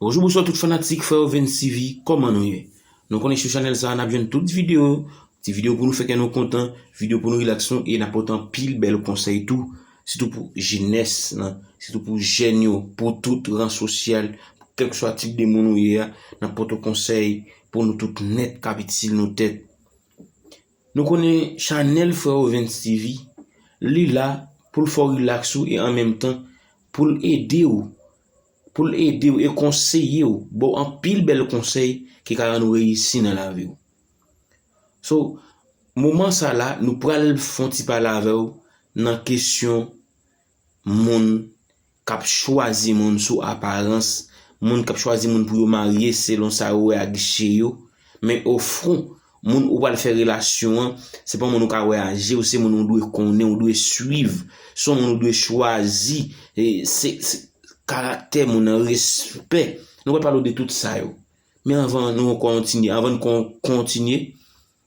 Bonjou bonswa tout fanatik freo vensivi kòman nou ye nou konnen sou chanèl sa nap jwenn tout video ti video pou nou fè kè nou kontan video pou nou relax nou e nap pote anpil bèl konsèy tou sitou pou jenès nan sitou pou jèn yo pou tout ran sosyal kèlkswa tip de moun ou ye a nap pote w konsèy pou nou tout nèt kap itil nou tèt nou konnen chanèl freo vensivi li la pou l fè w relax ou e an menm tan pou l ede w. Pou l ede w e konseye w, ba w anpil bèl konsèy ki ka rann ou reyisi nan lavi w. So, moman sa la, nou pral fè yon ti pale avè w nan kesyon moun k ap chwazi moun sou aparans, moun k ap chwazi moun pou yo marye selon sa yo wè ak je yo, Men ofron, moun ou pral fè relasyon an, se pa moun ou ka wè a je w, se moun ou dwe konnen, ou dwe swiv, se yon moun ou dwe chwazi, se karaktè moun nan, respè. Nou pral pale w de tout sa yo. Men anvan nou kontinye, anvan n kontinye,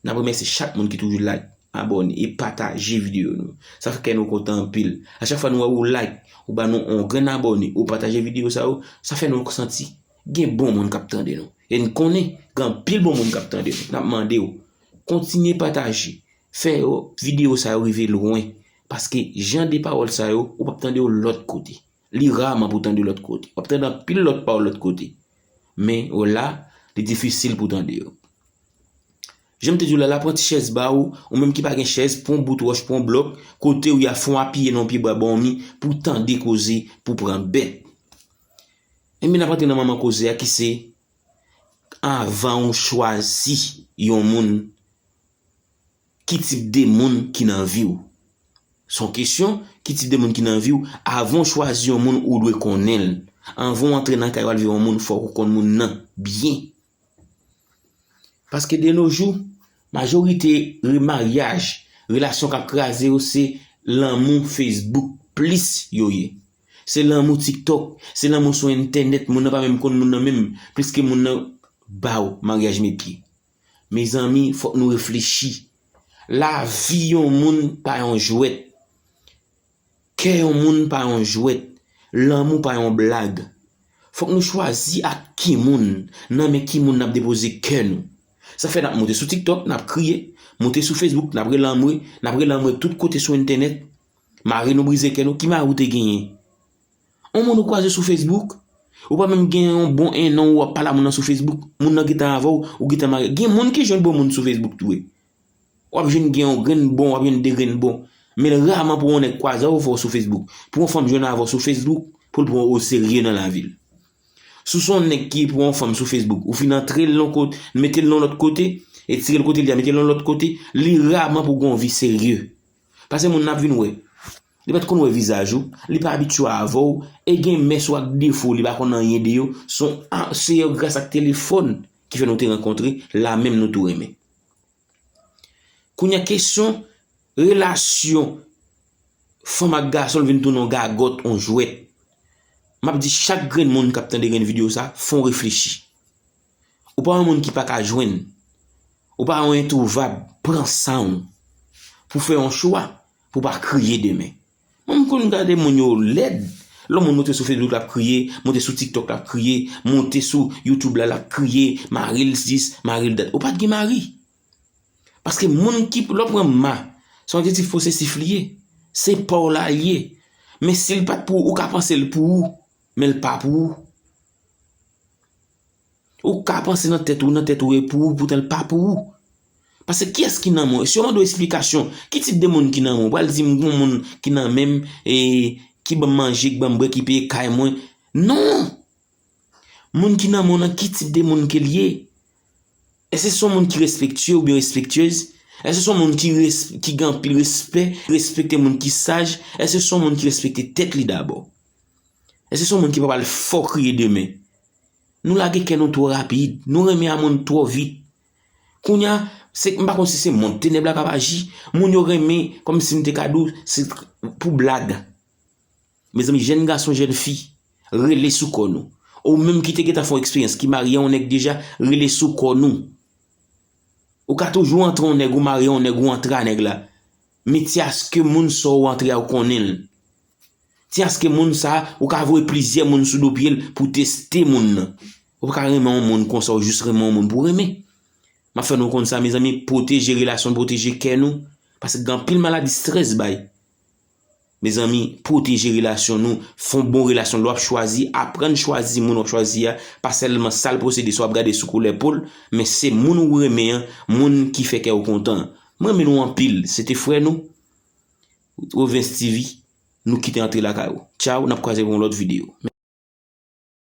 n ap remèsye chak moun ki toujou like, abòne e pataje videyo nou. Sa fè kè nou kontan anpil. A chak fwa nou wè ou like, ou ba nou yon grenn abòne, ou pataje videyo sa yo, sa fè nou santi Gen bon moun kap tande nou. E n konnen gen anpil bon moun kap tande nou. Nap mande w, kontinye pataje. Fè yo videyo sa yo rive lwen. Paske jan de pawòl sa yo, ou pap tande yo lòt kote. Li raman pou tande lòt kote. Wap tande anpil lòt pawòl lòt kote. Men yo la, li difisil pou tande yo. Jan m te di w la, la pran ti chèz ba ou. Ou menm ki pa gen chèz, pran yon bout wòch, pran yon blòk. Kote ou ya, fon apiye nan yon pye bwa ba w mi. Pou tande koze, pou pran bè. Enben n ap antre nan manman koze a ki se, anvan ou chwazi yon moun, ki tip de moun ki nan vi w? Se yon kesyon, ki tip de moun ki nan vi w? Avan ou chwazi yon moun ou dwe konnen l. Anvan ou antre nan kay w al viv yon moun fòk ou konn moun nan byen. Paske de no jou, majorite remaryaj, relasyon k ap kraze yo se lanmou Facebook plis yo ye. Se lanmou TikTok, se lanmou sou entènèt, moun nan pa menm konn moun nan menm, pliske moun nan ba ou maryaj met pye. Mezanmi, fòk nou reflechi. Lavi yon moun pa yon jwèt. Kè yon moun pa yon jwèt, lanmou pa yon blag. Fòk nou chwazi ak ki moun, nan men ki moun n ap depoze kè nou. Sa fè n ap monte sou TikTok, n ap kriye, monte sou Facebook, n ap rele anmwe, n ap rele anmwe tout kote sou entènèt. Mari nou brize kè nou, ki mari ou te genyen? On moun ou kwaze sou Facebook? Ou pa menm gen yon bon ennan ou ap pale a moun nan sou Facebook, moun nan gentan avè w, ou gentan marye. Gen moun ki jwenn bon moun sou Facebook tou wi. Wap jwenn gen yon grenn bon, wap jwenn 2 grenn bon. Men raman pou yon nèg kwaze avèw fè w sou Facebook. Pou yon fanm jwenn avèw sou Facebook, pou l pran w oserye nan lavi l. Si w se yon nèg ki pran yon fanm sou Facebook, ou fin antre l yon kote, mete l yon lòt kote, etire l kote li a mete l yon lòt kote, li raman pou gen yon vi serye. Pase moun nan ap vin wè. Li pat konn wè vizaj ou, li pa abitye avèw, e gen mès ou ak defo li pa konn anyen de yo, se yon gras ak telefòn ki fè nou te rankontre, la menm nou tou renmen. Kounya kesyon relasyon fanm ak gason vin tounen yon gagòt, yon jwèt. M ap di chak grenn moun k ap tande grenn videyo sa, fon reflechi. Ou pa yon moun ki pa ka jwenn, ou pa yon entwouvab, pran san ou pou fè yon chwa pou pa kriye demen. Mwen m konn gade moun yo lèd, lè yon moun monte sou Facebook lap kriye, monte sou tiktok lap kriye, monte sou YouTube la lap kriye, maril sis, maril dat. Ou pat gen mari. Paske moun ki, lè w pran ma, se yon adjektif posesif li ye. Se pa w la li ye. Men si l pat pou ou, ou ka panse l pou ou, men l pa pou ou. Ou ka panse nan tèt ou, nan tèt ou e pou ou, poutan l pa pou ou. Pase kiyès ki nan men w? Si yo mande w esplikasyon, ki tip de moun ki nan men w? Ou pral di m gen yon moun ki nan men m, e ki ban m manje, ki ban m bwè, ki peye kay mwen. Non! Moun ki nan men w nan ki tip de moun ke l ye? Èske se yon moun ki respektye oubyen respektyez? Èske se yon moun ki gen anpil respè, ki respekte moun ki saj? Èske se yon moun ki respekte tèt li dabò? Èske se yon moun ki pa pral fò kriye demen? Nou lage kè nou twò rapid. Nou renmen a moun twò vit. Kounye a, se, m pa konn si se mond tenèb la k ap aji, moun yo renmen, kòm si m te ka di w, se pou blag. Mezanmi, jèn gason, jèn fi, rele sou kò nou. Ou menm ki te gentan fè yon eksperyans, ki marye yon nèg deja, rele sou kò nou. Ou ka toujou antre yon nèg, ou marye yon nèg, ou antre a nèg la. Men ti aske moun sa w antre a ou konnen l. Ti aske moun sa ou ka voye plizyè moun sou do pyel pou teste moun nan. Ou paka renmen yon moun konsa ou jis renmen yon moun pou renmen. Map fè nou konn sa mezanmi pwoteje relasyon pwoteje kè nou paske gen anpil maladi strès bay. Mezanmi pwoteje relasyon nou fon bon relasyon lè wap chwazi aprann chwazi moun wap chwazi a pa sèlman sal posede sa wap gade sou koulè pol men se moun ou renmen an moun ki fè kèw kontan. Mwen renmen nou anpil se te frè nou Provens TV nou kite antre lakay ou. Ciao nap kwaze pou yon lot video.